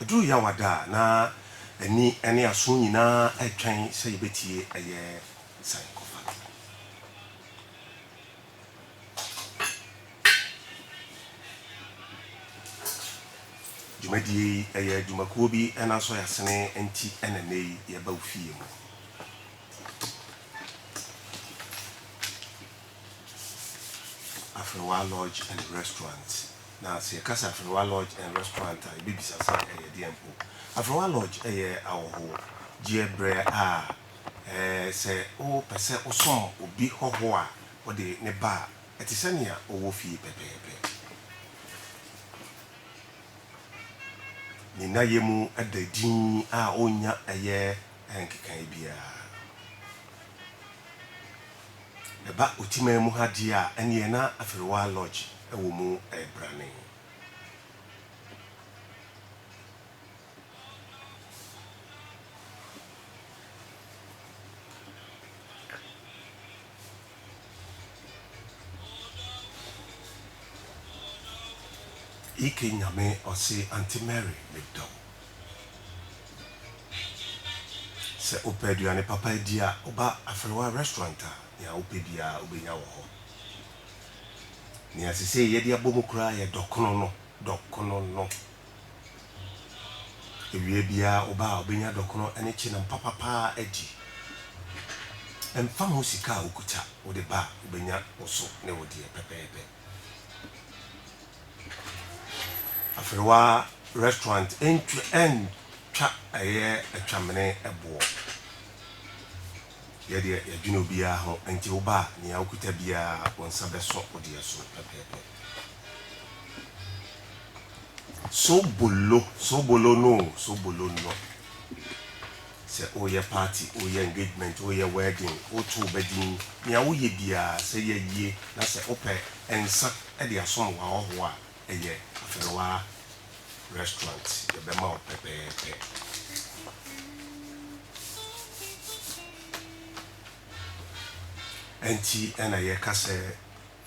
Ɛduru Yawada a, na ani ne aso nyinaa retwɛn sɛ yɛbɛtie ɛyɛ sankɔfa no. Dwumadie yi, ɛyɛ dwumakuo bi nanso yɛasene nti na nnɛ yi yɛba wo fie mu. Afrewa Lodge and Restaurant. Na sɛ yɛkasa Afrewa Lodge and Restaurant a, yɛbɛbisa sɛ ɛyɛ deɛn mpo? Afrewa Lodge yɛ awɔhoɔ gyeɛ berɛ a sɛ wo pɛ sɛ wo som obi hɔhoɔ a, wo de ne ba a, ɛte sɛ nea wo wɔ fie pɛpɛɛpɛ. Ne nnayɛ mu da dinn a ɔnnya ɛyɛ nkekaeɛ biara. Ɛba Otiman mu ha deɛ a, ɛnneɛ na Afiriwaa Lodge wɔ mu ɛrebrane. Ike Nyame ɔse Aunty Mary medɔ wo. Sɛ wopɛ aduane papa adi a, woba Afrewa Restaurant a, nea wopɛ biara wobenya wɔ hɔ. Nea sesei yɛde abɔ mu koraa yɛ dɔkono no, dɔkono no. Awia biara woba a, wobenya dɔkono ne kyenam papa paa adi. Ɛmfa ho sika a wukuta, wode ba a, wobenya wo so ne wo deɛ pɛpɛɛpɛ. Aferewa restaurant ntwa ɛntwa ɛyɛ atwamene ɛboɔ yɛ deɛ yɛdwene obiara ho nti wo ba nea wokuta biara wo nsa bɛso wo deɛ so pɛpɛɛpɛ sobolo sobolo no sobolo no Sɛ woreyɛ party, woreyɛ engagement, woreyɛ wedding, woreto wo ba din, nea woyɛ biara, sɛ yɛ yie na sɛ wopɛ nsa de asom w'ahɔhoɔ a, ɛyɛ Afenawaa Restaurant, yɛbɛma wo pɛpɛɛpɛ. Ɛnti na yɛka sɛ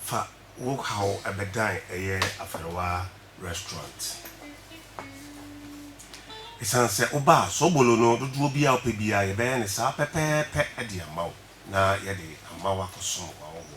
Fa wo haw bɛdan ɛyɛ Afɛrewa Restaurant. Esiane sɛ wobaa Sobolo no, dodoɔ biara a wopɛ biara yɛbɛyɛ no saa pɛpɛɛpɛ de ama wo na yɛde ama wo akɔsom w'ahɔhoɔ.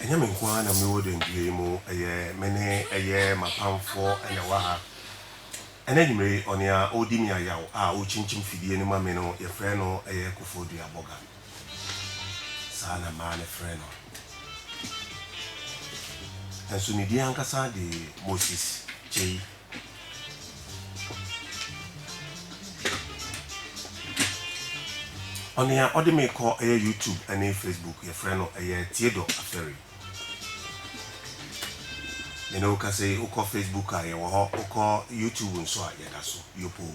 Ɛnyɛ me nko ara na mewɔ dɛndua yi mu, ɛyɛ me ne ɛyɛ m'apamfoɔ na ɛwɔ ha. Ɛnɛ anwummere yi, ɔnea ɔredi me ayaw a ɔrekyinkyim fidie no ma me no, yɛfrɛ no ɛyɛ Kofoɔ Dua Bɔga. Saa na mmaa no frɛ no. Nanso ne din ankasa de Moses Kyei. Ɔnea ɔde me kɔ ɛyɛ YouTube ɛne Facebook yɛfrɛ no ɛyɛ Theodor Aferi. Mene wo kasa yi, wokɔ Facebook a yɛwɔ hɔ, wokɔ YouTube nso a yɛda so yopoo.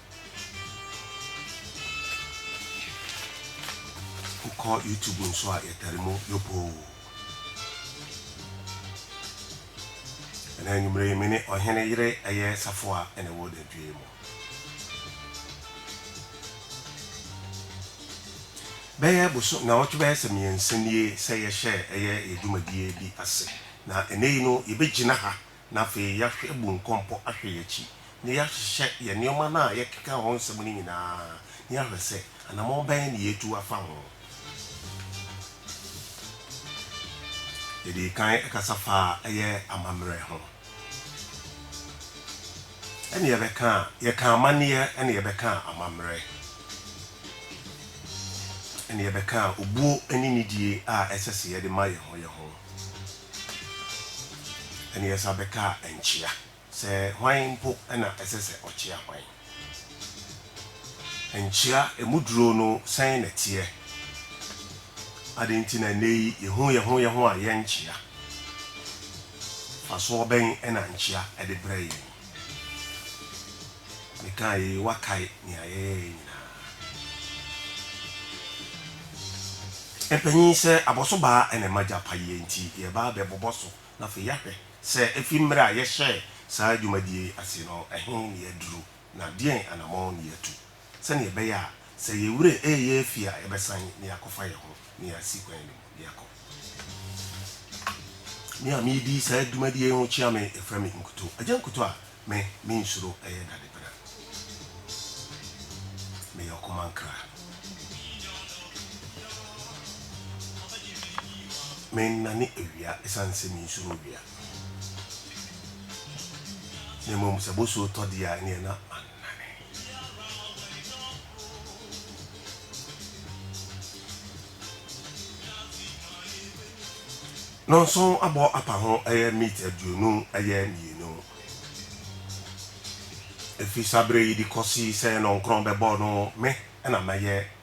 Wokɔ YouTube nso a yɛtare mu yopoo. Ɛnɛ anwummere yi me ne ɔhene yere ɛyɛ safoa na ɛwɔ dantwie yi mu. Bɛyɛ boso naawɔtwe bɛyɛ sɛ mmiɛnsa nie sɛ yɛhyɛɛ ɛyɛ yɛ dwumadie bi ase na ɛnɛ yi no yɛbɛgyina ha na afei yɛahwɛ abu nkɔmpɔ ahwɛ yɛn akyi, na yɛahyehyɛ yɛn nneɛma no a yɛkeka ho nsɛm no nyinaa, na yɛahwɛ sɛ anammɔn bɛn na yɛatu afa ho. Yɛdii kan kasa faa ɛyɛ amammerɛ ho. Ɛnna yɛbɛkaa, yɛkaa amanneɛ, ɛnna yɛbɛkaa amammerɛ, ɛnna yɛbɛkaa obuo ne nidie a ɛsɛ sɛ yɛde ma yɛn ho yɛn ho. Ɛnna Yesa bɛkaa nkyia sɛ, Hwan mpo na ɛsɛ sɛ ɔkyia hwan? Nkyia, emu duro no sɛn na ɛteɛ? Adɛn nti na nnɛyi yehu yɛn ho yɛn ho a yɛnkyia? Mfasoɔ bɛn na nkyia de brɛ yɛn? Mekaa yei, woakae nea yɛyɛeɛ nyinaa. Mpanin, Sɛ abɔso baa na ɛma gya pa yie nti, yɛreba abɛbobɔ so na afei yɛahwɛ sɛ ɛfiri mmerɛ a yɛhyɛɛ saa dwumadie yi ase no, ɛhe na yɛaduru na deɛn anammɔn na yɛatu. sɛnea ɛbɛyɛ a sɛ yɛn werɛ reyɛ afi a yɛbɛsan na yɛakɔfa yɛn ho na yɛasi kwan no mu na yɛakɔ. Me a meredi saa dwumadi yi ho kyia me, yɛfrɛ me Nkuto. Agya Nkuto a me mensuro yɛ dadepena. Meyɛ ɔkomankra. Mennane awia esiane sɛ mensuro owia. Na mmom sɛ bosuo tɔ deɛ a ɛneɛ na man. Nonson abɔ apa ho ɛyɛ meat aduonu ɛyɛ mmienu. Ɛfiri saa berɛ yi de kɔsi sɛ nɔnkorɔn bɛbɔ no, me na mɛyɛ.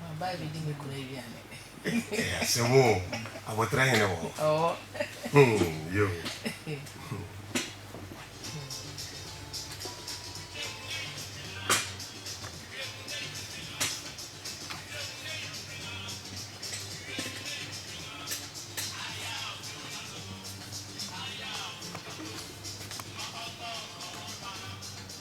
Maba abedi me kunu aduane. Ɛyɛ asɛm o, abotire hene wɔ hɔ. Ɔwɔ. Hmm, yo.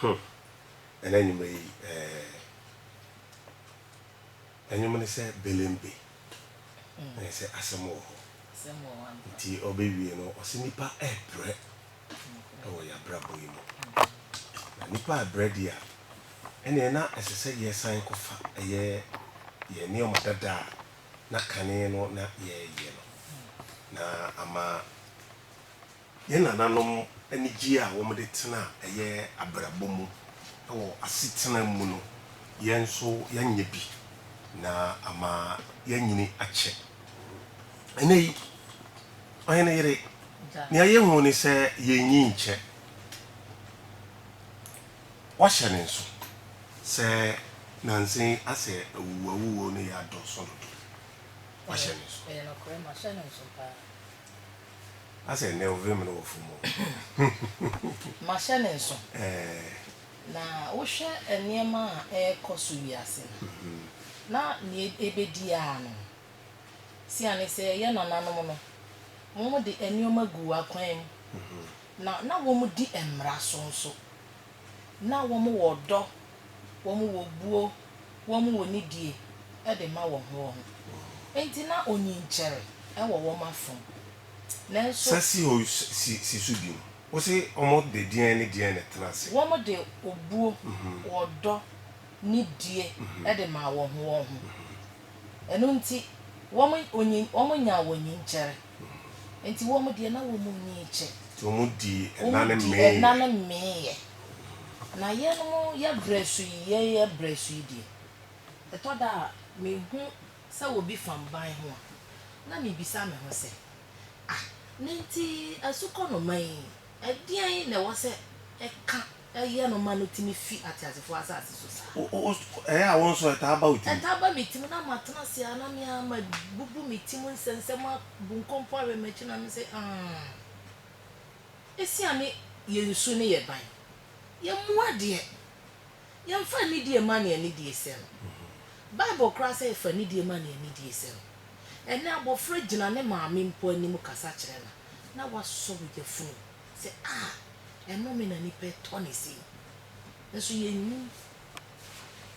Huh ɛna nwuma yi eh Ɛnwom no sɛ belembe na ɛsɛ asɛm wɔ hɔ nti ɔbɛwie no ɔse nipa ɛɛprɛ wɔ yɛn abrabɔ yi mu. Na nnipa rebrɛ deɛ a, ɛnneɛ na ɛsɛ sɛ yɛsan kɔfa ɛyɛ yɛn nneɛma dada a na kane no na yɛyɛ no, na ama yɛn nananom anigyeɛ a wɔde tena ɛyɛ abrabɔ mu wɔ asetena mu no, yɛn nso yɛanya bi, na ama yɛanyini akyɛ. Ɛnnɛ yi, Ɔhene yere, nea yehu ne sɛ yennye nkyɛ. Wɔahyɛ no nso sɛ nnansa yi asɛ awuwuawuwuo no yɛ adɔɔso dodo. Wɔahyɛ no nso. Ɛyɛ nokorɛ, mahyɛ no nso paa. Asɛ ɛnnɛ wo vem no wɔ fam o. Mahyɛ no nso. Ɛɛ. Na wohwɛ nneɛma a ɛrekɔ so wiase no, na nea ɛbɛdi ara no, Esiane sɛ yɛn nananom no, wɔde nneɛma guu akwan mu, na na wɔdi mmara so nso. Ná wɔwɔ ɔdɔ, wɔwɔ obuo, wɔwɔ nidie de ma wɔn ho wɔn ho. Enti na onyinkyɛre wɔ wɔn afam. Nanso. Sa si hɔ si so bio. Wose wɔde deɛn ne deɛn na ɛtena ase? Wɔde obuo, ɔdɔ, nidie de maa wɔn ho wɔn ho. Ɛno nti, wɔn onyin, wɔn nyaa wɔn nyin kyɛre. Enti wɔn deɛ, na wɔn nyin kyɛ. Nti wɔn dii ɛna ne mee yɛ. Wɔn dii ɛna ne mee yɛ. Na yɛnom, yɛ brɛ so yi, yɛn yɛ brɛ so yi deɛ, ɛtɔ da a, me hu sɛ obi fam ban ho a, na me bisa me ho sɛ, Ah, na nti asukɔnoma yi, ɛdeɛn na ɛwɔ sɛ ɛka Ɛyɛ no ma no tumi fi ateasefoɔ asase so saa. O, o, o, ɛyɛ a wo nso ɛtaa ba wo tirim? Ɛtaa ba me tirim, na matena ase ara, na me ara mabubu me ti mu nsɛnsɛm abu nkonko awɛn m'akyi, na mese, Aah. Esiane yɛn su ne yɛn ban, yɛn mmoa deɛ, yɛmfa anidie mma nea anidie sɛ no. Bible koraa sɛ fa anidie ma nea anidie sɛ no. Ɛnnɛ abɔfra gyina ne maame mpo anim kasa kyerɛ no a, na wasɔ wo yafunu. Sɛ a ɛnome na nipa tɔ ne sei nso yɛnnim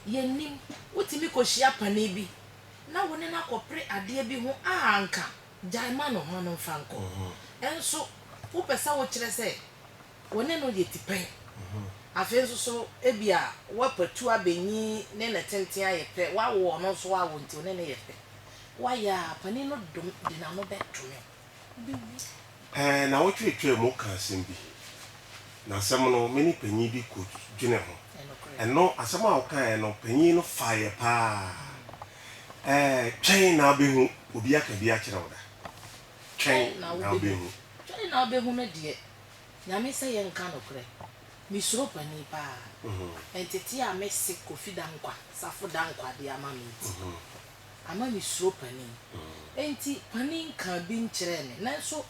yɛnnim wotumi kɔhyia pane bi na wo ne no akɔpere adeɛ bi ho a anka gyae ma no ma no mfa nkɔ nso wopɛ sɛ wokyerɛ sɛ wo ne no yɛ tipɛn afei nso so ebia woapatu abɛnyi ne ne tenten ayɛ pɛ woawo ɔno nso woawo nti wo ne no yɛ pɛ woayɛ a panin no dom de n'ano bɛdome wo. Ɛɛ, na wotwetwaa mu kaa asɛm bi, na asɛm no, me ne panyin bi kodwenee ho. Ɛno, asɛm a wokaeɛ no, panyin no faeɛ paa. Ɛɛ, twɛn na wobɛhu. Obi aka bi akyerɛ wo da? Twɛn na wobɛhu. Twɛn na wobɛhu no deɛ, Nyame sɛ yɛnka nokorɛ, mesuro panyin paa. Ntetee a mese Kofi Dankwa, Safo Dankwa de ama me nti. ama me suro panin. Enti panin kaa bi nkyerɛɛ me. Nanso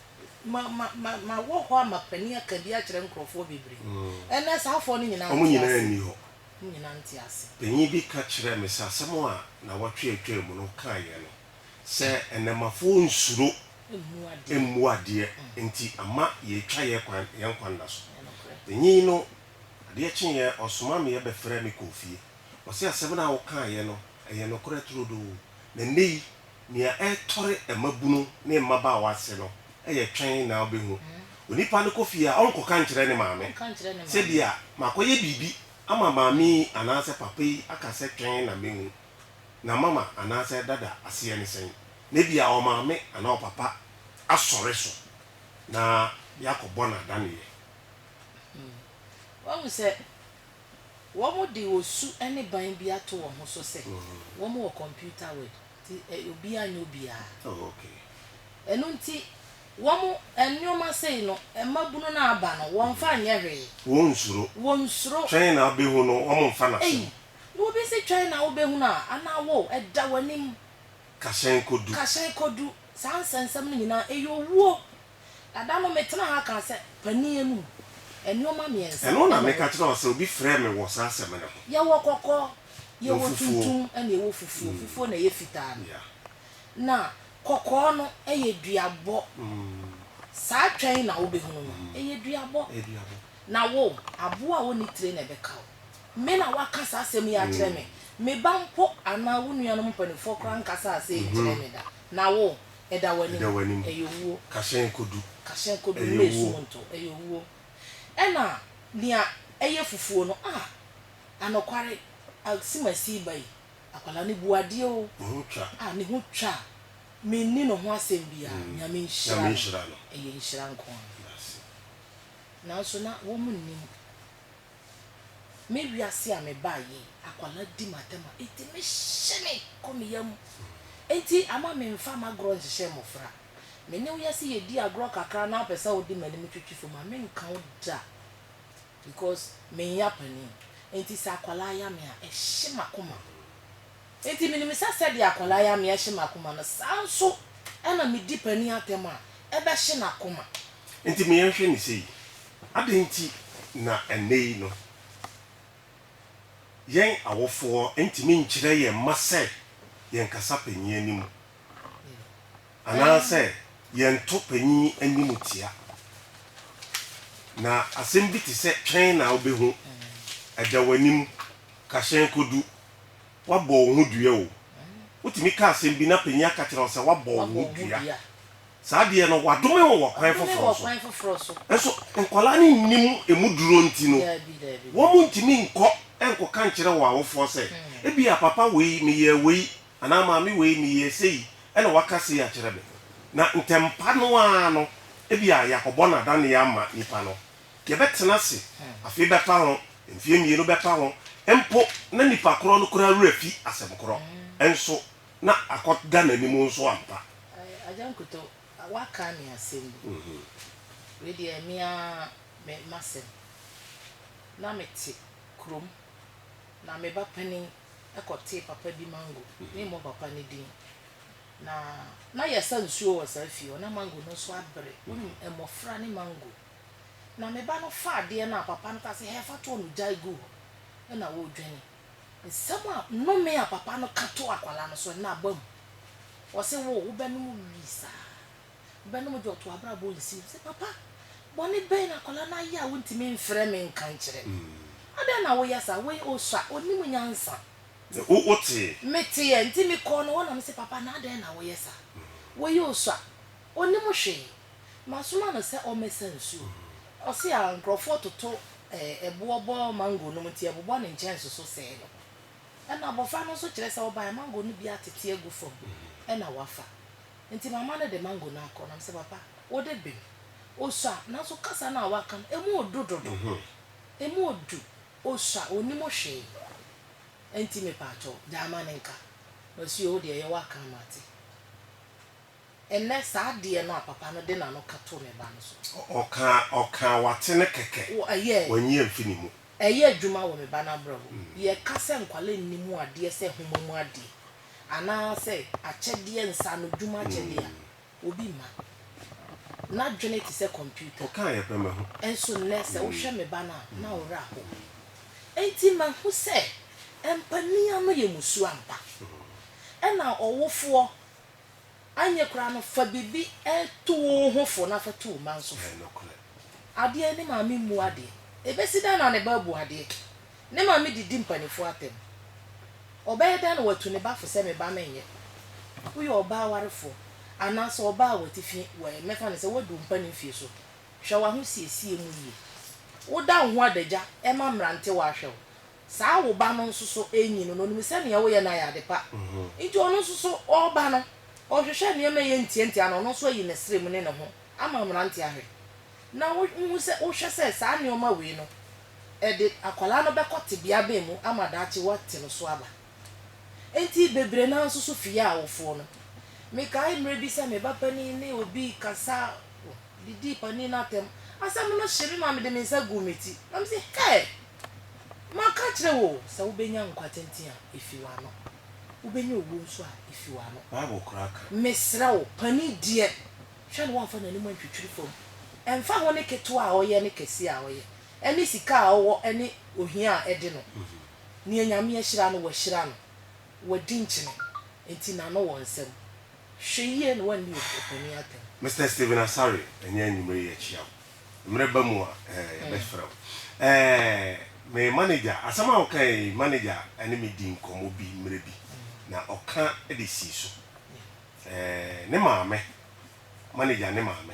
ma ma ma mawɔ hɔ ama panin aka bi akyerɛ nkurɔfoɔ bebree. Ɛnnɛ saa afoɔ no nyinaa nte ase. Wɔn nyinaa nni hɔ. Wɔn nyinaa nte ase. Panin bi ka kyerɛɛ me sɛ asɛm a nnawɔtwe a ɛtwaa mu no kaeɛ no sɛ nnɛmafoɔ nsuro mmu adeɛ nti ama yɛatwa yɛn kwan yɛn nkwa nna so. Panin no adeɛ kyeeɛ ɔsomaa me bɛfrɛɛ me kɔɔ fie. Ɔse asɛm no a wokaeɛ no Ɛyɛ nokorɛ turodoo. Na nnɛ yi, nea ɛretɔre mmabunu ne mmabaawa ase no yɛ twɛn na wobɛhu. Onipa no kɔ fie a, ɔrenkɔka nkyerɛ ne maame sɛ bi a makɔyɛ biribi ama maame yi anaasɛ papa yi aka sɛ twɛn na mɛhu na mama anaasɛ dada aseɛ ne sɛn. Na bi a ɔmaame anaa ɔpapa asɔre so na yɛakɔbɔ no adaneɛ. Woahu sɛ Wɔde osu ne ban bi ato wɔn ho so sɛ wɔwɔ kɔmputa word nti obiara nyɛ obiara. Ɛno nti wɔn nnoɔma sei no mmabunu no aba no wɔmfa nyɛ hwee. Wɔnsuro. Wɔnsuro. Twɛn na wobɛhu no wɔn mfa no asɛm. Ei na obi se twɛn na wobɛhu no a anaa wo ɛda w'anim. Kahyɛn kɔdu. Kahyɛn kɔdu. Saa nsɛnsɛm no nyinaa ɛyɛ owuo Na da no metenaa ha kaa sɛ, Panin anum, nnoɔma mmiɛnsa Ɛno na na meka wɔwɔ. kyerɛɛ wo sɛ obi frɛɛ me wɔ saa asɛm no ho. Yɛwɔ kɔkɔɔ, Na yɛwɔ ofufuo. tuntum, ɛna yɛwɔ fufuo. Fufuo na ɛyɛ fitaa no. Yeah. Na kɔkɔɔ no yɛ duabɔ. Saa twɛ yi na wobɛhunu no, ɛyɛ duabɔ. Ɛyɛ duabɔ. Na wo, aboa a ɔnni tire na ɛbɛka wo. Me na woaka saa asɛm yi akyerɛ me. Me ba mpo anaa wo nuanom mpanimfoɔ koraa nkasaa asɛm yi nkyerɛɛ me da. Na wo, Ɛda w'anim. Ɛda w'anim. Ɛyɛ owuo. Ka hyɛn kɔdu. Ka hyɛn kɔdu. Ɛyɛ Mma owuo. esum ntɔ. Ɛyɛ owuo. Ɛna nea ɛyɛ fufuo no, ah, anokware, asimasi ba yi, akwadaa no bu adeɛ o. Ne ho twa. Ah, ne ho twa. Menni ne ho asɛm biara. Mm. Nyame nhyira no. Nyame nhyira no. Ɛyɛ nhyira nko ara. Nanso na wɔnnim. Me wiase a mebaa yɛ akwadaa di m'atɛm a enti me hye me kɔ me yam enti ama me nfa m'agorɔ nhyehyɛ mmɔfra me ne wo yɛ se yɛ di agorɔ kakra na wo pɛ sɛ wo de m'anim twitwi fam a me nka wo da because me nya panin enti sɛ akwadaa ya me a ɛhye m'akoma. Enti minim sɛ sɛdeɛ akwadaa yɛ amee ahye m'akoma no, saa ara nso na medi panin atɛm a, ɛbɛhye n'akoma. Enti me yɛnhwɛ no sei, adɛn nti na ɛnnɛ yi no, yɛn awofoɔ ntumi nkyerɛ yɛn mma sɛ yɛnkasa panin anim, anaasɛ yɛnto panin animtia? Na asɛm bi te sɛ twɛn na wobɛhu, da w'anim, ka hyɛn kɔdu, Woabɔ wo ho dua o. Wotumi ka asɛm bi na panyin aka kyerɛ wo sɛ woabɔ wo ho dua. Saa adeɛ no, wɔadome wo wɔ kwan foforɔ so. Nso nkwadaa no nnim emu duro nti no, wɔntumi nkɔ nkɔka nkyerɛ wɔn awofoɔ sɛ, Ebia papa wei, meyɛɛ wei, anaa maame wei, meyɛɛ sei, ɛna waka sei akyerɛ me. Na ntɛmpa no ara no, ebia yɛakɔbɔ no adanneɛ ama nipa no. Deɛ bɛtena ase afei bɛfa ho, mfeɛ mmienu bɛfa ho mpo na nipa korɔ no koraa werɛ fi asɛm korɔ nso na akɔ da n'anim nso ampa. Agya Nkuto, woaka me asɛm bi. Wei deɛ me ara me m'asɛm. Na mete kurom, na me ba panin kɔtee papa bi mango, memmɔ papa no din, na na yɛsa nsuo wɔ saa fie hɔ, na mango no nso abere. Wonim, mmɔfra ne mango. Na me ba no faa adeɛ no a papa no kaa sɛ, Hɛ, fa toɔ no gyae guu hɔ, ɛnna ɔredwane. Nsɛm a nnome a papa no ka too akwadaa no so, ɛnnɛ aba mu. Wɔse, Wo, wobɛnom wii saa? Wobɛnom gye ɔto w'abrabɔ nsi? Ɔse, Papa, bɔne bɛn na akwadaa no ayɛ a wontumi mfrɛ me nka nkyerɛ me? Adɛn na woyɛ saa? Wei ɔsua, ɔnnim nyansa. Wo, woteeɛ? Meteeɛ, enti mekɔɔ no hɔ na mese, Papa, na adɛn na woyɛ saa? Wei ɔsua. Ɔnnim hwee. Masoma no sɛ ɔmmɛsa nsuo. Ɔse a nkorɔfoɔ toto ɛboɔ bɔ mango nom nti ɛbobɔ ne nkyɛnse so sɛe no. Ɛna abɔfra no nso kyerɛ sɛ ɔbaeɛ mango no bi atete agu fam ɛna wafa. Nti mama no de mango no akɔ na mesɛ papa wode bem. Ɔsua nanso kasa no a waka no ɛmu ɔdu dodo. Ɛmu ɔdu. Ɔsua ɔnnim hwee. Ɛnti mepaakyɛw gyae ma no nka. Masuo wo deɛ yɛ w'aka ama ate. Ɛnnɛ, saa adeɛ no a papa no de n'ano ka too ne ba no so. Ɔkaa, ɔkaa, wate no kɛkɛ. Wɔ, ɛyɛ. Wanyi amfi ne mu. Ɛyɛ adwuma wɔ me ba no abrabɔ mu. Yɛka sɛ nkwadaa nni mu adeɛ sɛ nhoma mu adeɛ, anaasɛ akyɛdeɛ, nsaanodwuma akyɛdeɛ a, obi mma. N'adwene te sɛ kɔmputa. Ɔkaa yɛ pɛ mahu. Nso nnɛ, sɛ wohwɛ me ba no a, na wo werɛ ahow. Enti mahu sɛ, ɛmpanin ano yɛ mmusuo ampa. Ɛna ɔwofoɔ. Anyɛ koraa no, fa biribi tu wo ho fo na fa tu wo mma nso fo. Adeɛ, ne maame mmu adeɛ. Ɛbɛsi dɛn na ne ba abu adeɛ? Ne maame didi mpanimfoɔ atɛm. Ɔbɛyɛ dɛn na watu ne ba fo sɛ me ba menyɛ? Woyɛ ɔbaa awarefoɔ anaasɛ ɔbaa a wate fie, mɛfa no sɛ woadu mpanin fie so, hwɛ w'ahosiesie mu yie. Woda wo ho adagya ma mmerantewa ahwɛ wo, Saa wo ba no nso so renyi no, na onim sɛ nea woyɛ no ayɛ ade pa. Enti ɔno nso so ɔreba no, ɔrehwehwɛ nneɛma a ɛyɛ ntiantia na ɔno nso ayi ne srɛ mu ne ne ho ama mmerante ahwɛ. Na wuhu sɛ, wohwɛ sɛ saa nneɛma wei no, ɛde akwadaa no bɛkɔ tebea bɛn mu ama daakye wɔate no so aba? Enti bebree no ara nso so fi yɛ awofoɔ no. Mekae mmerɛ bi sɛ me ba panin ne obi rekasa, wɔdidii panin no atɛm, asɛm no hyee me ma mede me nsa guu me ti, na mese, Hɛɛ! Maka akyerɛ wo sɛ wobɛnya nkwa tenten a, ɛfiri w'ano, wobɛnya owuo nso a, ɛfiri w'ano. Bible koraa ka. Mesrɛ wo, panin deɛ, hwɛ no wamfa n'anim antwitwiri fam. Ɛmfa ho ne ketewa a ɔyɛ ne kɛseɛ a ɔyɛ, ne sika a ɔwɔ ne ohia a ɛde no, deɛ Nyame ahyira no, wahyira no, wadi nkyene, enti n'ano wɔ nsɛm. Hwɛ yie na woanni opanin atɛm. Mister Stephen Asare, ɛnyɛ anwumerɛ yi yɛkyia wo. Mmerɛ ba mu a ɛɛ yɛbɛfrɛ wo. Ɛɛ me manager, asɛm a wokaeɛ yi, manager ne me dii nkɔmmɔ bi mmerɛ bi, na ɔka de sii so. Ɛɛ ne maame, manager ne maame,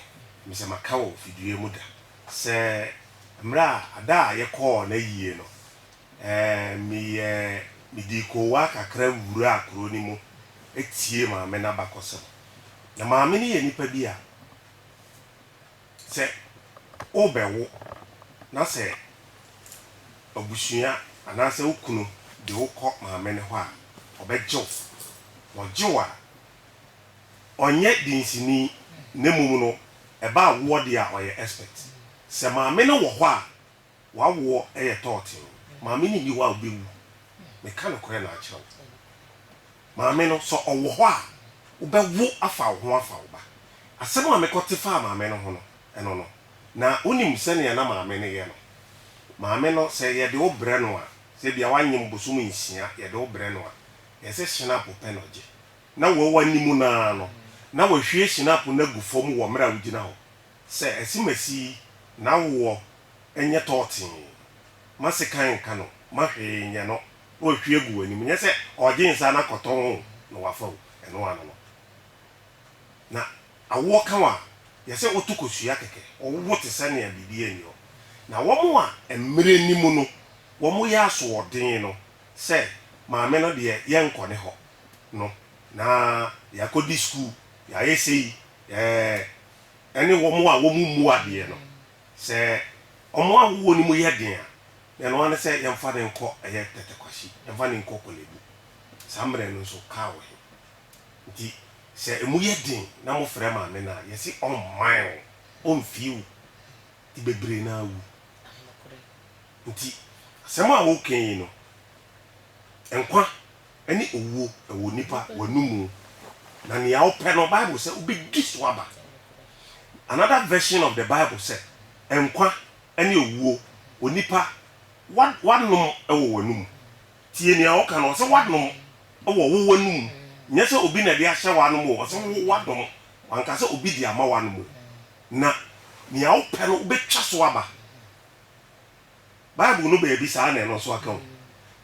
mesɛ maka wɔ fidua mu da sɛ mmerɛ a ada a yɛkɔɔ n'ayie no, ɛɛ meyɛɛ, medii koowaa kakra wuraa kuro no mu tie maame no abakɔsɛm. Na maame no yɛ nipa bi a sɛ worebɛwo na sɛ abusua anaasɛ wo kunu de wo kɔ maame no hɔ a, ɔbɛgye wo. Ɔgye wo a, ɔnyɛ dinsini na mmom no ɛba awoɔ deɛ a ɔyɛ expert. Sɛ maame no wɔ hɔ a. W'awoɔ yɛ tɔɔtee. Maame no nni hɔ a wobɛwu. Meka nokorɛ na akyerɛ wo. Maame no, sɛ ɔwɔ hɔ a, wobɛwo afa wo ho afa wo ba. Asɛm a mekɔte faa maame no ho no, ɛno no, na wonim sɛdeɛ na maame no yɛ no. Maame no, sɛ yɛde wo brɛ no a, sɛ ebia wanyem bosom nsia, yɛde wo brɛ no a, ɛyɛ sɛ hyinapo pɛ na ɔgye. Na wawu anim no ara no, na wahwie hyinapo no agu fam wɔ mmerɛ a wogyina hɔ. Sɛ asimasi yi n'awoɔ nyɛ tɔɔtee ma sekan nka no ma hwee nyɛ no na wahwie agu w'anim nyɛ sɛ ɔregye nsa no akɔtɔn o na wafa o ɛno ano no na awoɔ ka wo a yɛsɛ woto kosua kɛkɛ wowo te sɛ nea biribiara nni hɔ na wɔn a mmerɛ ni mu no wɔn yɛ asoɔden no sɛ maame no deɛ yɛnkɔ ne hɔ no na yɛakɔdi sukuu Yɛayɛ sei ɛɛ, ne wɔn a wɔmmu adeɛ no, sɛ wɔn awoɔ no mu yɛ den a, na ɛno ara ne sɛ yɛmfa no nkɔ ɛyɛ tɛtɛkwahyi, yɛmfa no nkɔ Korle-Bu. Saa mmerɛ no nso, kaa wɔ he? Nti sɛ emu yɛ den na mofrɛ maame no a, yɛse ɔmman wo, ɔmfie wo, nti bebree no ara wu. Nti asɛm a woka yi no, nkwa. ne owuo wɔ onipa w'anom mu, na nea wopɛ no Bible sɛ wobɛdi so aba. Another version of the Bible sɛ nkwa ne owuo onipa w'anom wɔ w'anom mu. Tie nea ɔka no, ɔse w'anom wɔ wo w'anom mu, nyɛ sɛ obi na ɛde ahyɛ w'anom o, ɔse wo w'anom, wanka sɛ obi de ama w'anom o, na nea wopɛ no wobɛtwa so aba. Bible no baabi saa na ɛno nso aka o.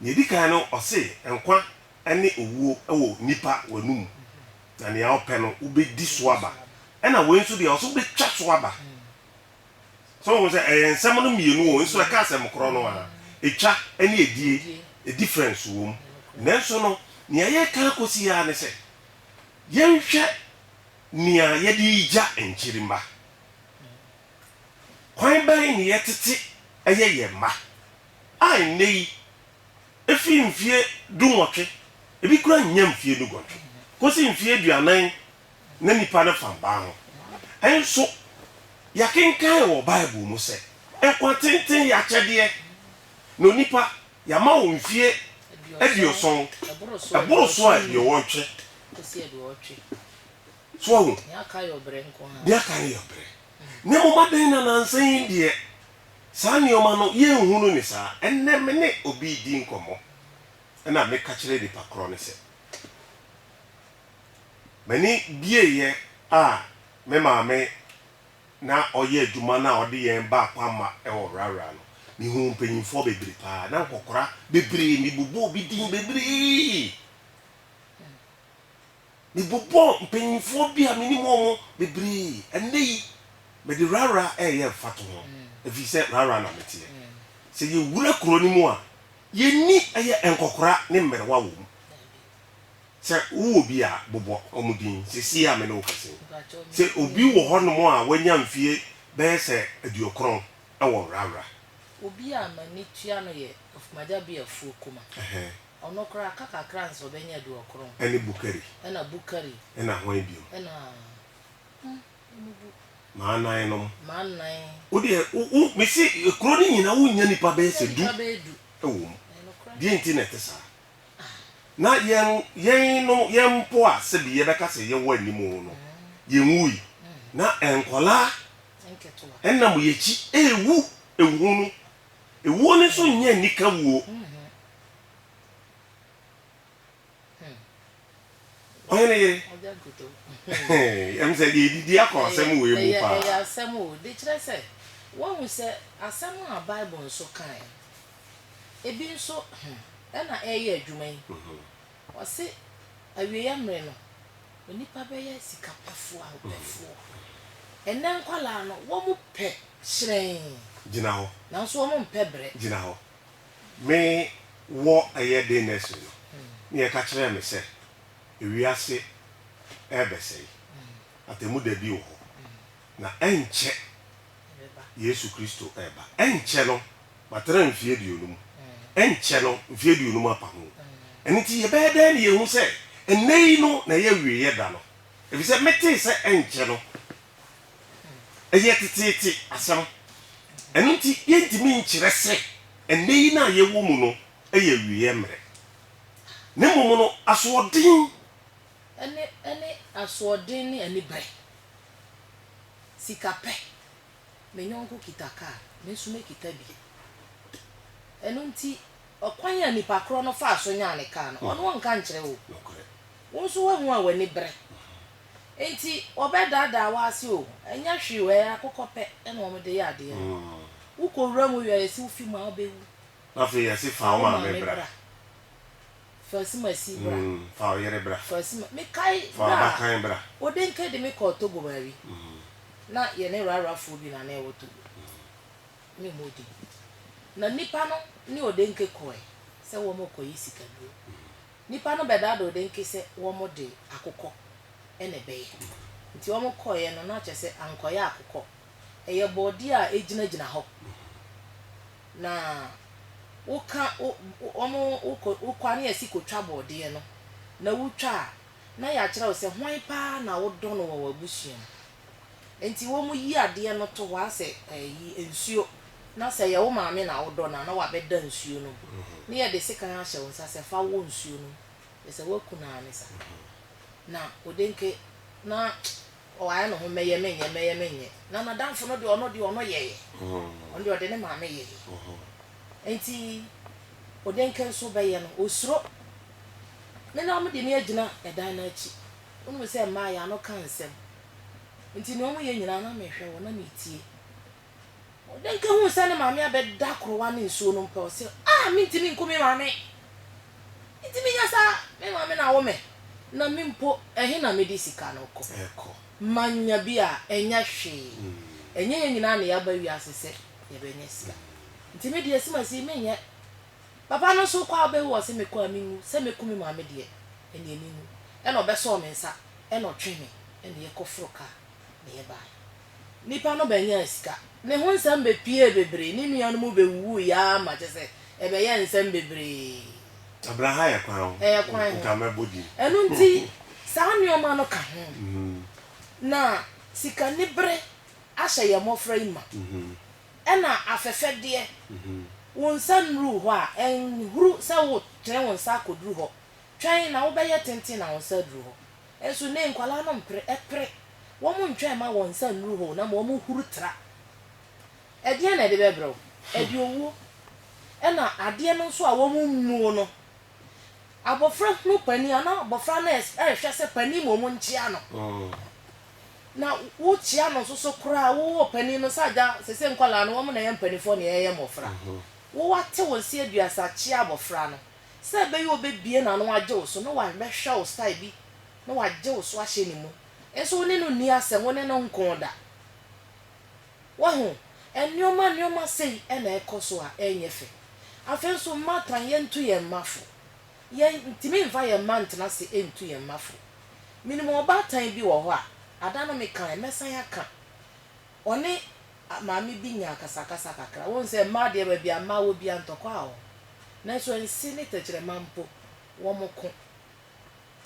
Nea edi kan no, ɔse nkwa ne owuo wɔ nipa w'anomu, na nea wopɛ no wobɛdi so aba. Ɛna wei nso deɛ, ɔse wobɛtwa so aba. So wohu sɛ ɛyɛ nsɛm no mmienu o, nso ɛka asɛm korɔ no ara. Etwa ne adie, difference wɔ mu. Nanso no, nea yɛreka akɔsi yi ara ne sɛ, yɛnhwɛ nea yɛde regya nkyirimma. Kwan bɛn na yɛtete yɛ yɛn mma a nnɛyi efi mfie dunwɔtwe, ebi koraa nnya mfie duguɔtwe, kosi mfie aduanan na nnipa no fam baa ho? Nso yɛakenkan wɔ Bible mu sɛ, Nkwa tenten yɛ akyɛdeɛ, na onipa, yɛama wo mfie aduɔson, ɛboro so a aduɔwɔtwe. So ahu? Nea aka yɛ ɔbrɛ nko ara. Nea aka yɛ ɔbrɛ. Na mmom adɛn na nnansa yi deɛ saa nneɛma no yɛnhu no ne saa? Ɛnnɛ me ne obi redi nkɔmmɔ na meka kyerɛ nipa korɔ no sɛ, M'ani bieeɛ a me maame na ɔyɛ adwuma no a ɔde yɛn baa Kwamma wɔ Rara no, mehuu mpanyimfoɔ bebree pa ara, na nkɔkora bebree, mebobɔɔ bi din bebree. Mebobɔɔ mpanyimfoɔ bi a menim wɔn bebree. Ɛnnɛ yi, mede rara reyɛ mfatoho, ɛfiri sɛ rara na meteɛ. Sɛ yɛwura kuro no mu a, yɛnni ɛyɛ nkɔkora ne mmerewa wɔ mu. Sɛ wowɔ bi a, bobɔ wɔn din seesei a me ne wo kasa yi. Sɛ obi wɔ hɔnom a wanya mfeɛ bɛyɛ sɛ aduokron wɔ rara. Obi a m'ani tua no yɛ Afomagya Biafuo Kumah. Ɔno koraa ka kakra ansa ɔbɛnya aduɔkron. Ɛne Bukari. Ɛna Bukari. Ɛna hwan bio? Ɛna hmm ɔmo bu. M'anan nom. M'anan. Wo deɛ wo wo mese kuro no nyinaa wo nnya nipa bɛyɛ sɛ du. Nipa bɛyɛ du. Ɛwɔ mu. Ɛyɛ nokorɛ. Deɛ nti na ɛte saa. Ah. Na yɛn yɛn nom yɛn mpo a sɛbi yɛbɛka sɛ yɛwɔ anim wo no yɛn nwui na nkwadaa. Nketewa. Ɛnam yɛn akyi ɛɛwu ɛhunu Ewuo no nso nyɛ anika wuo. Ɔhene yere, ɛm sɛ deɛ ɛdidi akɔ asɛm wei mu paa. Ɛyɛ asɛm o, de kyerɛ sɛ, woahu sɛ asɛm a Bible nso kaeɛ, ebi nso ɛna ɛreyɛ adwuma yi. Ɔse awieɛ mmere no onipa bɛyɛ sika pɛfoɔ a ɔpɛfoɔ. Ɛnnɛ nkwadaa no wɔn pɛ hyerɛnn. Gyina hɔ. Nanso wɔn mpɛ brɛ. Gyina hɔ. Me wɔ ɛyɛ den nursery no ne yɛka kyerɛɛ me sɛ ewiase ɛɛbɛsɛe. Atɛmu da bi wɔ hɔ na ɛnkyɛ. Yesu Kristo reba. Ɛnkyɛ no, matena mfeɛ aduonum. Ɛnkyɛ no, mfeɛ aduonum apa ho. Ɛno nti, yɛbɛyɛ dɛn na yɛahu sɛ ɛnnɛ yi no na ɛyɛ awieeɛ da no? Ɛfiri sɛ metee sɛ ɛnkyɛ no. Ɛyɛ teteete asɛm. Ɛno nti, yɛntumi nkyerɛ sɛ ɛnnɛ yi no a yɛwɔ mu no yɛ awieeɛ mmerɛ. Na mmom no, asoɔden. Ɛne asoɔden ne aniberɛ. Sika pɛ. Me yɔnko kita kar, me nso mekita bi. Ɛno nti, ɔkwan a nipa korɔ no faa so nyaa ne kar no, ɔno ɔnka nkyerɛ wo. Wo nso woahu a w'ani bere. Enti wɔbɛdaadaa wo ase o, ɛnyɛ hwee o, ɛyɛ akokɔ pɛ na wɔde yɛ adeɛ no. Wokɔ wuram wie a, yɛse wo fi mu a, wobɛwu. Afei yɛse fa wo maame bra. Fa sumasi bra. Mm, fa wo yere bra. Fa suma, mekae Fa bere a w'abakan bra. Odenke de me kɔɔ Togo baabi. Mm. Na yɛne Rarafoɔ bi na na ɛwɔ Togo. Mennim wo din. Na nnipa no ne Odenke kɔɔe sɛ wɔrekɔyi sikaduro. Nnipa no bɛdaadaa Odenke sɛ wɔde akokɔ na ɛbɛyɛ. Nti wɔkɔeɛ no, na kyerɛ sɛ ankɔyɛ akokɔ. Ɛyɛ borɔdeɛ a ɛgyinagyina hɔ. Na woka wo wɔn wo kɔ wo kɔ ne asi kotwa borɔdeɛ no, na wotwa a, na yɛakyerɛ wo sɛ hwan pa ara na wodɔ no wɔ w'abusua mu. Enti wɔyi adeɛ no to hɔ ara sɛ ayi nsuo, na sɛ ɛyɛ wo maame na wodɔ no a, na wabɛda nsuo no mu, na yɛde sekan ahyɛ wo nsa sɛ fa wɔ nsuo no mu, kyerɛ sɛ woaku no ara ne saa. Na Odenke, na Ɔayɛ no ho mɛyɛ mennyɛ mɛyɛ mennyɛ na n'adamfo no de ɔno de ɔno yɛeɛ. Ɔno de ɔde ne maame yɛeɛ. Nti Odenke nso bɛyɛ no ɔsuro. Me na wɔde me agyina ɛdan no akyi. Wonim sɛ mmaa yɛn ano ka nsɛm. Nti nea wɔyɛ nyinaa na mehwɛ wɔn na metie. Ɔdenka huu sɛ ne maame abɛda korowa ne nsuo no mpɛ, ɔse, Ah! Mentumi nku me maame! Mentumi nyɛ saa! Me maame na awo me, na me mpo, ɛhe na mede sika no kɔ? Manya bi a, ɛnyɛ hwee. Ɛnyɛ yɛn nyinaa na yɛaba wiase sɛ yɛbɛnya sika. Nti me deɛ, simasi menyɛ. Papa no nso, wokɔ a wobɛwu, ɔse, mekɔ a menwu. Sɛ mɛku me maame deɛ, ɛneɛ menwu. Ɛna ɔbɛsɔɔ me nsa, ɛna ɔtwee me, ɛna yɛkɔforoo kaa, na yɛbaeɛ. Nipa no bɛnyaa sika. Ne ho nsɛm bɛpuee bebree. Ne nuanom bɛwuwuui ara ma kyerɛ sɛ ɛbɛyɛɛ nsɛm bebree. Abira ha yɛ kwan o. Ɛyɛ kwan ho. Nka mɛbɔ din. Ɛno nti, saa nneɛma no ka ho. Na sikanibere ahyɛ yɛn mmɔfra yi ma. Ɛna afɛfɛdeɛ. Wo nsa nnuruu hɔ a, ɛnhuru sɛ wotene wo nsa akɔduru hɔ. Twɛn na wobɛyɛ tenten na wo nsa aduru hɔ. Nso nnɛ yi nkwadaa no mpere, ɛpere. Wɔntwɛn mma wɔn nsa nnuru hɔ na mmom wɔhuru tra. Ɛdeɛn na ɛde bɛbrɛ wo? Ɛde owuo. Ɛna adeɛ no nso a wɔmmuo no, abɔfra hunu panin a, na abɔfra no rehwɛ sɛ panin mmom nkyea no. Na wokyea no nso so koraa, wowɔ panin no sɛ agya, seesei nkwadaa no, wɔn na ɛyɛ mpanimfoɔ na yɛyɛ mmɔfra. Wo wate wo nse aduasa kyea abɔfra no. Sɛ ɛbɛyɛ a ɔbɛbue n'ano agye wo so na wabɛhwɛ wo style bi na wagye wo so ahyɛ ne mu. Nso wo ne no nni asɛm, wo ne no nko da. Wahu? Nneɛma nneɛma sei na ɛkɔ so a, ɛnyɛ fɛ. Afei nso mma tan yɛntu yɛn mma fo. Yɛntumi mfa yɛn mma ntena ase ntu yɛn mma fo. Menim ɔbaatan bi wɔ hɔ a, ada no mekaeɛ, mɛsan aka. Ɔne Maame bi nyaa akasakasa kakra. Wohu sɛ mmaa deɛ baabi a mmaa wɔ biara ntɔkwa wɔ hɔ. Nanso nse ne tɛkyerɛma mpo, wɔko.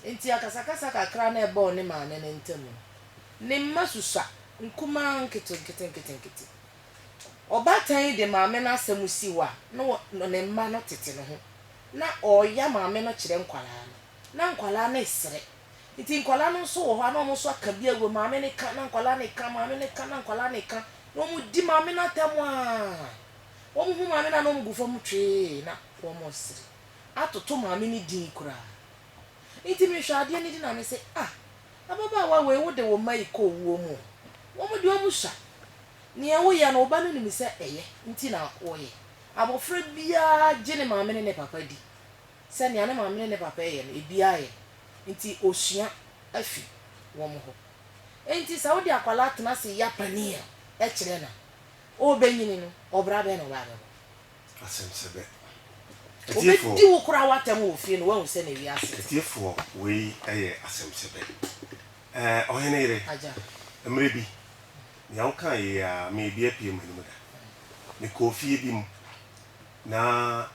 Enti akasakasa kakra no a ɛbaa ɔne maame no ntam no, ne mma susua, nkumaa, nketenkete, nketenkete. Ɔbaatan yi de maame no asɛm si hɔ a, na ne mma no tete ne ho. Na ɔreyɛ maame no kyerɛ nkwadaa no. Na nkwadaa no resere. Nti nkwadaa no nso wɔ hɔ a na wɔn nso aka bi agu hɔ, maame no reka na nkwadaa no reka, maame no reka na nkwadaa no reka, na wɔdi maame no atɛm ara. Wɔhu maame no a na wɔgu fam twee na wɔresere atoto maame no din koraa. Nti mehwɛ adeɛ no di na mese, ah, ababaawa wei wode wo mma rekɔ owuo mu o, wɔn deɛ wɔsua. Deɛ woyɛ no wo ba no nim sɛ ɛyɛ nti na woyɛ. Abɔfra biara gye ne maame ne ne papa di. sɛ nea ne maame ne ne papa yɛ no, ebiara yɛ. Enti osua afi wɔn hɔ. Enti sɛ wode akwadaa tena ase ya panin a, kyerɛ no a, ɔrebenyini no, ɔbra bɛn na ɔbaa bɛbɔ? Asɛm sɛ bɛ. Atiefoɔ. Ɔbɛdi wo koraa w'atɛm wɔ fie no, woahu sɛ na wiase. Atiefoɔ, wei yɛ asɛm sɛ bɛ. Ɛɛ, ɔhene yere. Agya. Mmerɛ bi, nea wokaa yei ara, me ebi apue m'anom da. Mekɔɔ fie bi mu, na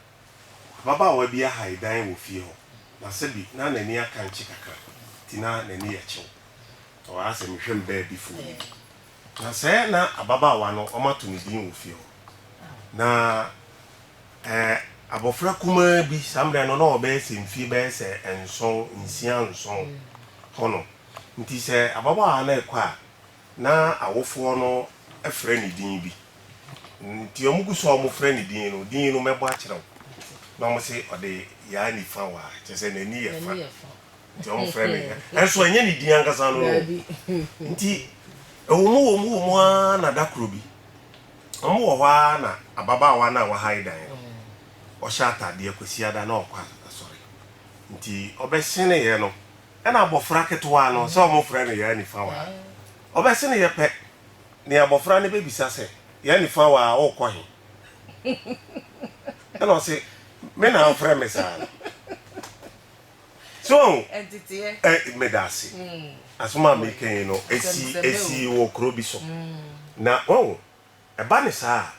Ababaawa bi ahae dan wɔ fie hɔ, na sɛbi na n'ani akankye kakra, nti na n'ani yɛ kyew. Ɔɔ, asɛ mehwɛ me baabifoɔ no bi. Na sɛ na ababaawa no wɔato no din wɔ fie hɔ. Na ɛɛ, abɔfra kumaa bi, saa mmerɛ no na ɔbɛyɛ sɛ mfie bɛyɛ sɛ nson, nsia nson hɔnom. Nti sɛ ababaawa no rekɔ a, Ná awofoɔ no frɛ no din bi, nti wɔn gu so a wɔn frɛ no din no, din no mɛbɔ akyerɛ wo. Na wɔn se ɔde yaa nifa wa, kyerɛ sɛ n'ani yɛ fa, nti wɔn frɛ no yaa. Nanso ɛnyɛ ne din ankasa no no. Nti ɛwɔ mu wɔ mu wɔ mu ara na da koro bi, wɔn wɔ hɔ ara na ababaawa no a wahae dan no, ɔhyɛ ataadeɛ Kwasiada na ɔkɔ asɔre, nti ɔbɛhyeneeɛ no Ɛna abɔfra ketewaa no, sɛ wɔfrɛ no Yaa Nifawaa, ɔbɛseneeɛ pɛ ne abɔfra no bɛbisa sɛ, Yaa Nifawaa, worekɔ he? Ɛna ɔse, Me na wofrɛ me saa no? So woahu? Ɛ, medaase. Asɛm a mereka yi no, ɛsii, ɛsii wɔ kuro bi so. Na, woahu? Ɛba no saa a,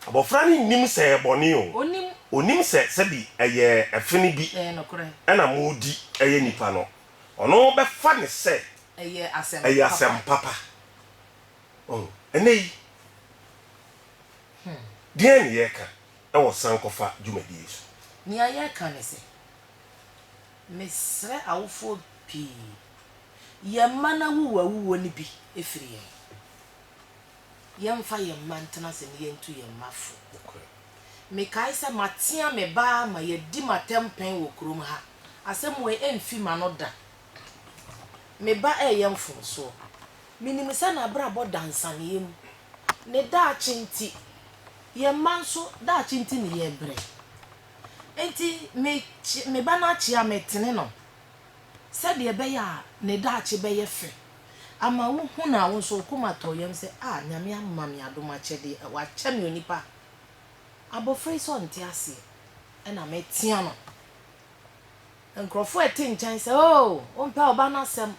abɔfra no nnim sɛ ɛyɛ bɔne o. Ɔnnim sɛ sɛbi ɛyɛ ɛfe no bi na moredi ɛyɛ nnipa no. Ɔno bɛfa no sɛ ɛyɛ asɛm papa. Wahu? Ɛnnɛ yi, deɛn na yɛreka wɔ sankɔfa dwumadie so? Nea yɛreka ne sɛ, mesrɛ awofoɔ pii, yɛn mma no awuwuawuwuo no bi firi yɛn. yɛmfa yɛn mma ntena ase na yentu yɛn mma fo. Mekae sɛ matea me ba ma yɛadi me atɛmpɛn wɔ kurom ha. Asɛm wei remfi m'ano da. Me ba reyɛ mfomsoɔ. Menim sɛ n'abrabɔ da nsaneeɛ mu. Ne daakye nti, yɛn mma nso daakye nti na yɛrebrɛ. Enti me ba no akyea me, metene no. sɛdeɛ ɛbɛyɛ a ne daakye bɛyɛ fɛ ama wo hu no a, wo nso wo koma tɔ yam sɛ, Ah, Nyame ama me adom akyɛdeɛ, ɛ, wakyɛ me onipa. Abɔfra yi sɛ ɔnte aseɛ, ɛna metea no. Nkorɔfoɔ a ɛte nkyɛn sɛ, Oh, wompɛ wo ba no asɛm.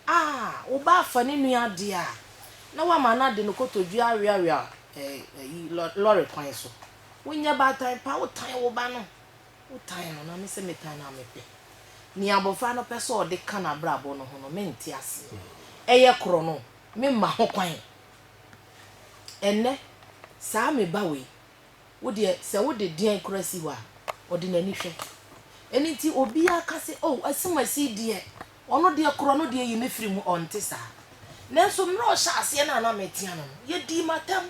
Ah, wo ba afa ne nua adeɛ a, na woama no ade no kotodwe aweawea, ɛ, ayi, lɔ, lɔre kwan so. Wonyɛ baatan pa, wotan wo ba no, Wotan no, na me sɛ metan no a mepɛ. Nea abofra no pɛ sɛ ɔde ka n'abrabɔ no ho no, mente aseɛ. Ɛyɛ korɔ no, memma ho kwan. Ɛnnɛ, saa me ba wei, wo deɛ, sɛ wode deɛn koraa si hɔ a, ɔde n'ani hwɛ. Ɛno nti, obiara ka sɛ, Oh, Asumasi deɛ, Ɔno deɛ korɔ no deɛ yi me firi mu ɔnte saa nanso mmerɛ a ɔhyɛ aseɛ no a na metea no no yɛdii me atam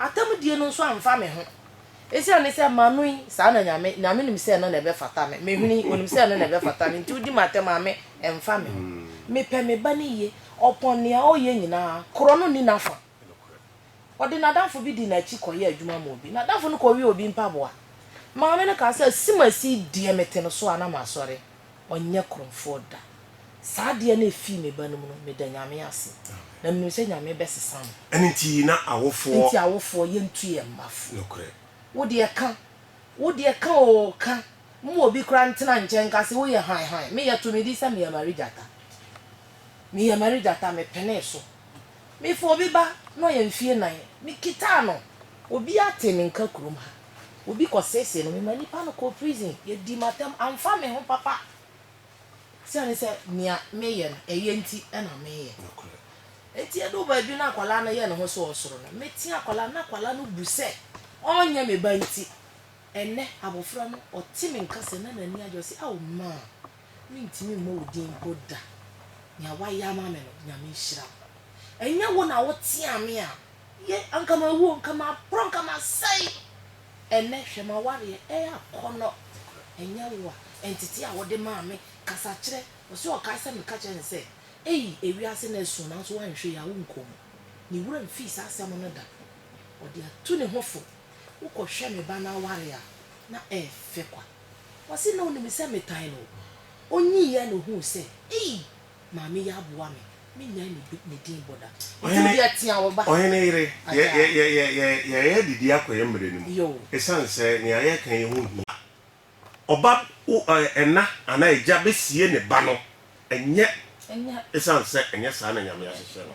atam die no nso amfa me ho ɛsiane ne sɛ mano yi saa na Nyame Nyame nim sɛ ɛno na ɛbɛfata me me hwene yi ɔnim sɛ ɛno na ɛbɛfata me nti wodi me atam a me mfa me ho mepɛ me ba no yie ɔpɔn nea ɔyɛ nyinaa korɔ no nni n'afa. Ɔde n'adamfo bi dii n'akyi kɔyɛɛ adwuma maa obi. N'adamfo no kɔwee obi mpaboa. Maame no kaa sɛ, Asimasi yi deɛ mete no so a na masɔre. Ɔnyɛ korɔmfoɔ da. Saa adeɛ no a ɛfii me ba no mu no, meda Nyame ase. Na menim sɛ Nyame bɛsesa no. Ɛno nti na awofoɔ. Enti awofoɔ, yɛntu yɛn mma fo. Nokorɛ. Wo deɛ ka. Wo deɛ ka oo, ka. Mma obi koraa ntena nkyɛn nka sɛ woyɛ hann hann. Me, yɛtoo me din sɛ Mia Mary Gyata. Mia Mary Gyata, mepenee so. Mefaa obi ba, na ɔyɛ mfeɛ nnan. Mekitaa no, obiara tee me nka kurom ha. Obi kɔseesee no, memaa nipa no kɔɔ prison. Yɛdii me atɛm, amfa me ho papa. Esiane sɛ nea meyɛ no, ɛyɛ nti na meyɛ. Enti ɛduu baabi na akwadaa no yɛ ne ho sɛ ɔresoro no, metea akwadaa no, na akwadaa no bu sɛ ɔrenyɛ me ba nti, ɛnnɛ abɔfra no, ɔte me nka sɛ na n'ani agye, ɔse, Ao, Maa! Mentumi mmɔ wo din mpo da. Nea woayɛ ama me no, Nyame nhyira wo. Ɛnyɛ wo na woteaa me a, ye, anka mawu o, anka maporɔ, anka masɛe. Ɛnnɛ, hwɛ m'awareɛ reyɛ akɔnnɔ. Ɛnyɛ wo a, ntetee a wode maa me, kasakyerɛ, ɔse ɔkae sɛ meka kyerɛɛ no sɛ, Ei, ewiase no asu, nanso woanhwɛ yie a, wonkɔ mu. Ne wura mfii saa asɛm no da. Ɔde atu ne ho fo. Wokɔhwɛ me ba no aware a, na ɛyɛ fɛ kwa. Ɔse na onim sɛ metan no. Onyiiɛ na ohuu sɛ ei maame yi aboa me, menyae ne din bɔ da. Ɔse odi atea wo ba. Ɔhene yere, yɛyɛ adidi akɔ yɛn mmerɛ no mu ɛsiane sɛ nea yɛreka yi ho hia. Ɔba, ɛna anaa agya bɛsie ne ba no ɛnyɛ ɛsiane sɛ ɛnyɛ saa na Nyame ahyehyɛ no.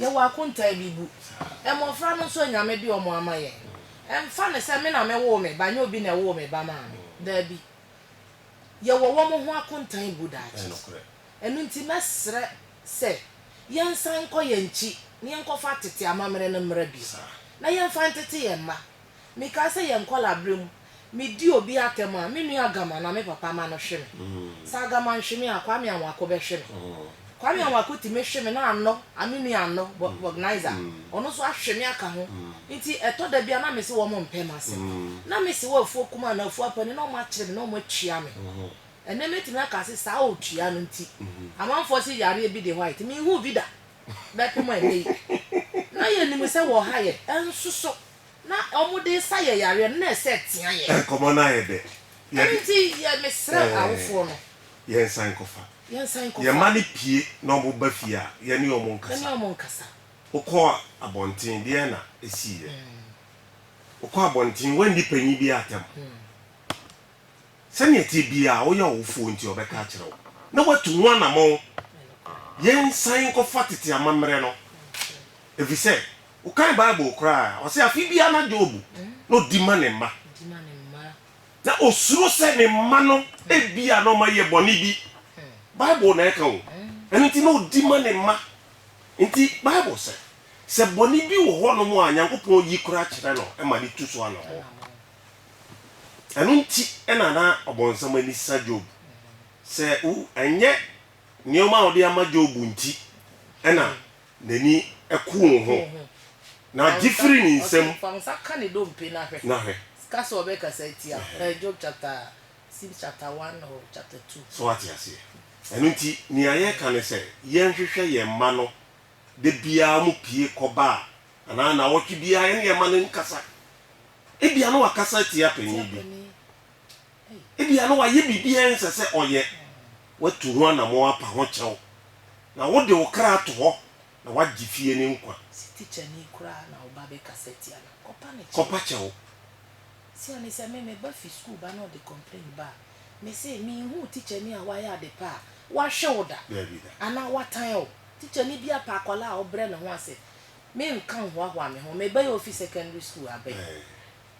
Yɛwɔ akontaa bi bu. Mmofra no nso a Nyame de wɔn ama yɛn. Ɛmfa no sɛ me na mewoo me ba, nyɛ obi na ɛwoo me ba maa me. Daabi. Yɛwɔ wɔn ho akontaa bu daakye. Ɛno nti mɛsrɛ sɛ yɛnsan nkɔ yɛn akyi na yɛnkɔfa tete amammerɛ no mmra bio, na yɛmfa ntete yɛn mma. Mekaa sɛ yɛn nkɔlaa bere mu Medi obi atɛm a, me nua Agama anaa me papa ma no hwe me. Sɛ Agama nhwe me a, Kwame Anwako bɛhwe me. Kwame Anwako tumi hwe me na Anɔ, Aminu Anɔ, Bognizer, ɔno nso ahwe me aka ho. Nti ɛtɔ da bi a na mese wɔmpɛ m'ase. Na mese wɔ afuo kumaa anaa afuo apa ni na wɔakyere me na wɔatua me. Ɛnnɛ mɛtumi aka se saa ɔtua no nti, amanfoɔ se yareɛ bi de hɔ a ɛte. Menhuu bi da bɛpem ɛnnɛ yi. Na yɛnim sɛ wɔ ha yɛ nsoso Na wɔde nsa yɛ yareɛ no, na ɛsɛ tea yɛ. Nkɔmmɔ no ayɛ dɛ. Yɛ. Ɛno nti, yɛ, mesrɛ awofoɔ no. Yɛnsan nkɔfa. Yɛnsan nkɔfa. Yɛn mma no pue na wɔba fie a, yɛne wɔn nkasa. Yɛne wɔn nkasa. Wokɔɔ abɔnten, deɛn na ɛsiiɛ? Wokɔɔ abɔnten, woanni panin biara atɛm. Sɛdeɛ ɛteɛ biara, woyɛ ɔwofoɔ nti, ɔbɛka akyerɛ wo, na watu ho anamɔn. Yɛnsan nkɔfa tete amammerɛ no, ɛfiri sɛ. Wokan Bible koraa a, ɔse afe biara na Job na odi ma ne mma. Na osuro sɛ ne mma no ebia na wɔayɛ bɔne bi. Bible na ɛka o. Ɛno nti na odi ma ne mma. Nti Bible sɛ, sɛ bɔne bi wɔ hɔnom a Nyankopɔn yi koraa kyerɛ no ma no tu so anammɔn. Ɛno nti na na ɔbonsam ani sa Job sɛ, ooh, ɛnyɛ nneɛma a ɔde ama Job nti na N'ani ku wo ho, na gye firi ne nsam. Fa wo nsa ka ne dompe na hwɛ. Na hwɛ. Ka sɛ ɔbɛkasa atia wo. Ɛhɛn, Job chapter, seems chapter one or chapter two. So wate aseɛ? Ɛno nti, nea yɛreka ne sɛ, yɛnhwehwɛ yɛn mma no da biara wɔpue kɔ baa, anaa nnawɔtwe biara yɛne yɛn mma no nkasa. Ebia na wakasa atia panin bi. Ebia na wayɛ biribi a ɛnsɛ sɛ ɔyɛ. Watu ho anammɔn apa ho kyɛw, na wode wo kra ato hɔ na woagye fie no nkwa. Sɛ tikyani koraa na wo ba bɛkasa tia no a, kɔpa no kyɛw. Kɔpa kyɛw. Sia ne sɛ me, me ba fi sukuu ba na ɔde complain ba a, mese, Minhuu tikyani a wayɛ ade pa a wahwe wo da anaa watan wo. Tikyani bi apa akwadaa a ɔbrɛ ne ho ase. Menka nhoahoa me ho. Me ba yi a ofi secondary sukuu aba yi,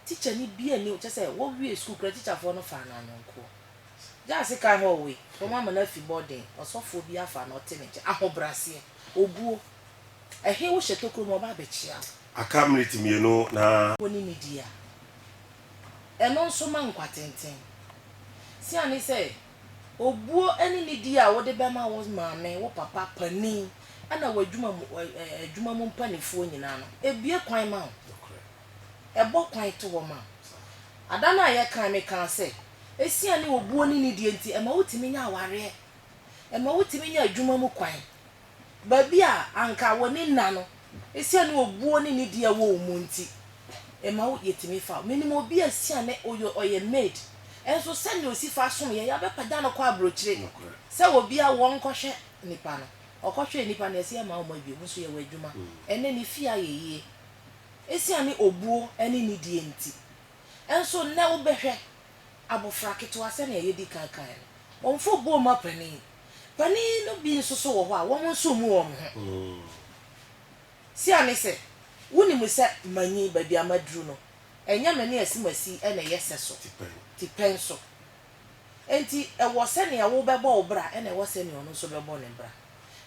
Tikyani biaa nni hɔ, kyerɛ sɛ wɔwiee sukuu koraa tikyafoɔ no faa no ayɔnkoɔ. Gyasi ka hɔ wei, wɔama no afi bɔɔden, ɔsɔfoɔ bi afa no ɔte ne nkyɛn, ahobraseɛ, obuo. Ɛhe wohyɛ tokuro mu a ɔba abɛkyea wo? Aka minute mmienu na. Wo ne no di a, ɛno nso ma nkwatenten. Sia ne sɛ, obuo ne ne di a wode bɛma wo maame, wo papa, panin, ɛna w'adwuma mu adwuma mu mpanifoɔ nyinaa no, ɛbue kwan ma wo. ɛbɔ kwan to hɔ ma wo. Ada no a yɛkae me kaa sɛ, Esiane obuo ne nidie nti, ɛma wotumi nya awareɛ, ɛma wotumi nya adwuma mu kwan. Baabi a anka w'ani nna no, esiane obuo ne nidie a ɛwɔ wo mu nti, ɛma wo yɛtumi fa wo. Menim obi a esiane ɔyɛ ɔyɛ maid, nso sɛnea ɔsi fa som yɛn, yɛabɛpagya no kɔ aburokyire sɛ obi a wɔnkɔhwɛ nnipa no. Ɔkɔhwɛɛ nnipa no, yɛse yɛmma wɔn abio, nso yɛwɔ adwuma. Ɛnnɛ ne fie ayɛ yie. Esiane obuo ne nidie nti nso, nnɛ wobɛhwɛ abofra ketewa, sɛnea yɛadi kan kae no, wɔmfa obuo mma panin. Panin no bi nso so wɔ hɔ a, wɔn nso mmu wɔn ho. Siane sɛ wonim sɛ manyin baabi a maduru no, ɛnyɛ me ne asimasi na ɛyɛ sɛso, tipɛn so. Enti ɛwɔ sɛnea wobɛbɔ wo bra na ɛwɔ sɛnea ɔno nso bɛbɔ ne bra.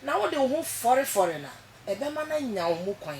Na wode wo ho fɔrefɔre no a, ɛbɛma no anya wo mu kwan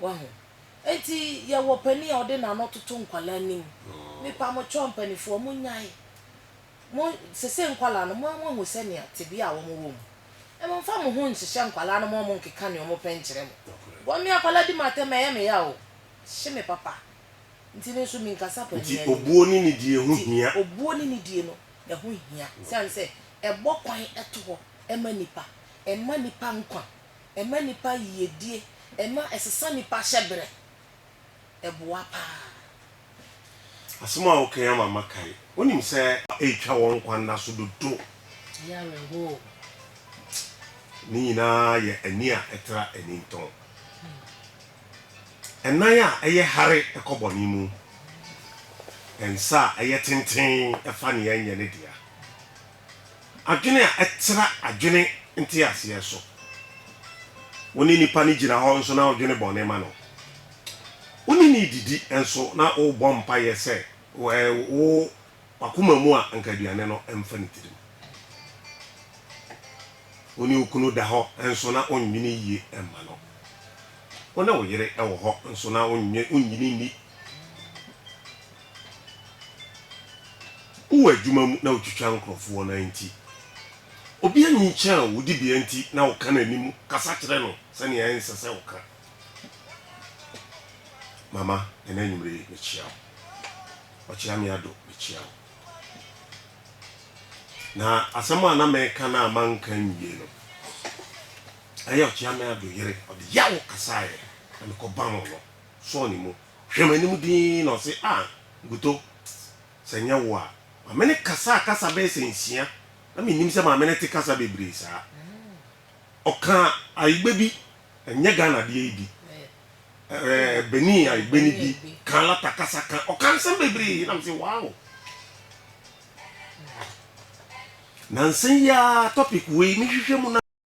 Wahu? Enti yɛwɔ panin a ɔde n'ano toto nkwadaa anim. Mepamokyɛw mpanimfoɔ, monnyae. Mo, seesei nkwadaa no, mo, moahu sɛnea tebea a wɔwɔ mu. Mommfa mo ho nhyehyɛ nkwadaa no ma wɔnkeka nea wɔpɛ nkyerɛ mo. Wɔn ne akwadaa di mo atɛm a, ɛyɛ me yaw o. Hye me papa. Enti me nso menkasa panin anim. Nti obuo ne nidie ho hia. Nti obuo ne nidie no, ɛho hia. Esiane sɛ ɛbɔ kwan to hɔ ma nnipa. Ɛma nnipa nkwa. Ɛma nnipa yiyedie. Ɛma ɛsesa nnipa hyɛberɛ. Ɛboa paa. Asem a woka yi ama makae. Wonim sɛ. Ɛretwa wɔn nkwa nna so dodo. Ɛyɛ awerɛhoo. Ne nyinaa yɛ ani a ɛtra anintɔn. Ɛnan a ɛyɛ hare kɔ bɔne mu. Nsa a ɛyɛ tenten fa nea ɛnyɛ ne dea. adwene a ɛtra adwene nteaseɛ so. Wo ne nipa no gyina hɔ nso na wodwene bɔne ma no. Wo ne no redidi nso na wobɔ mpaeɛ sɛ wɔ w'akoma mu a anka aduane no mfa ne tirim. Wo ne wo kunu da hɔ nso na wonnwene yie mma no. Wo ne wo yere wɔ hɔ nso na wonnwene nni. Wowɔ adwuma mu na wotwitwa nkurɔfo wɔn nan nti, obi anyinkyan wo, wo dibea nti na woka n'anim kasa kyerɛ no sɛnea ɛnsɛ sɛ woka. Mama, ɛnnɛ anwummere yi, mekyia wo. Ɔkyeame Addo, mekyia wo. Na asɛm a na mereka no a manka anwie no, ɛyɛ Ɔkyeame Addo yere, ɔde yaw kasaeɛ, na mekɔbam no, sɔɔ ne mu. Hwɛ m'anim dinn na ɔse a nkutoo sɛ nyɛ wo a ma me ne kasa a kasa bɛyɛ sɛ nsia na mennim sɛ maame no te kasa bebree saa. Ɔka Ayigbe bi, ɛnyɛ Ghana deɛ yi bi, ɛɛ Benin Ayigbe no bi, ka Alata kasa ka, ɔka nsɛm bebree na mese wow. Nansa yi ara topic wei mehwehwɛ mu na.